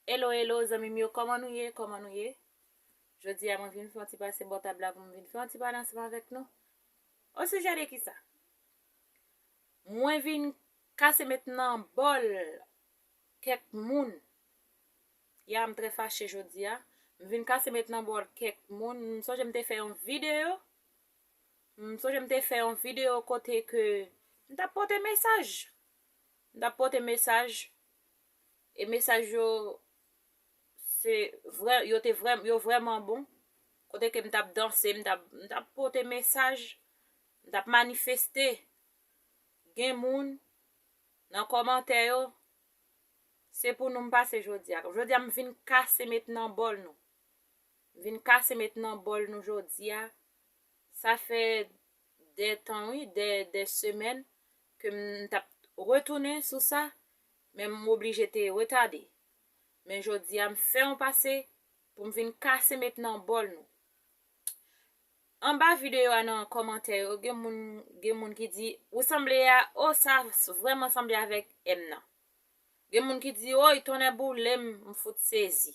Hello hello zanmim yo koman nou ye koman nou ye Jodi a mwen vin fè yon ti pase bò tab la pou mwen vin fè yon ti pale ansanm avèk nou O sijè de ki sa? Mwen vin kase met nan bòl kèk moun Ya m trè fache jodi a M vin kase met nan bòl kèk moun M sonje m te fè yon videyo M sonje m te fè yon video kote ke m tap pote mesaj. M tap pote mesaj. E mesaj yo se vrè, yo te vrè, yo vrèman bon. Kote ke m tap danse, m tap, m tap pote mesaj. M tap manifeste. Gen moun nan komantè yo, se pou nou m pase jodi a. Jodi a m vin kase met nan bol nou. Vin kase met nan bòl nou jodia sa fè dè tan wi dè dè semèn ke m tap retounen sou sa men m oblije te retade men jodia m fè yon pase pou m vin kase met nan bòl nou anba video a nan kòmantè yo gen moun gen moun ki di ou sanble a oh sa vrèman sanble avèk m nan gen moun ki di woy tonnè boulem m fout sezi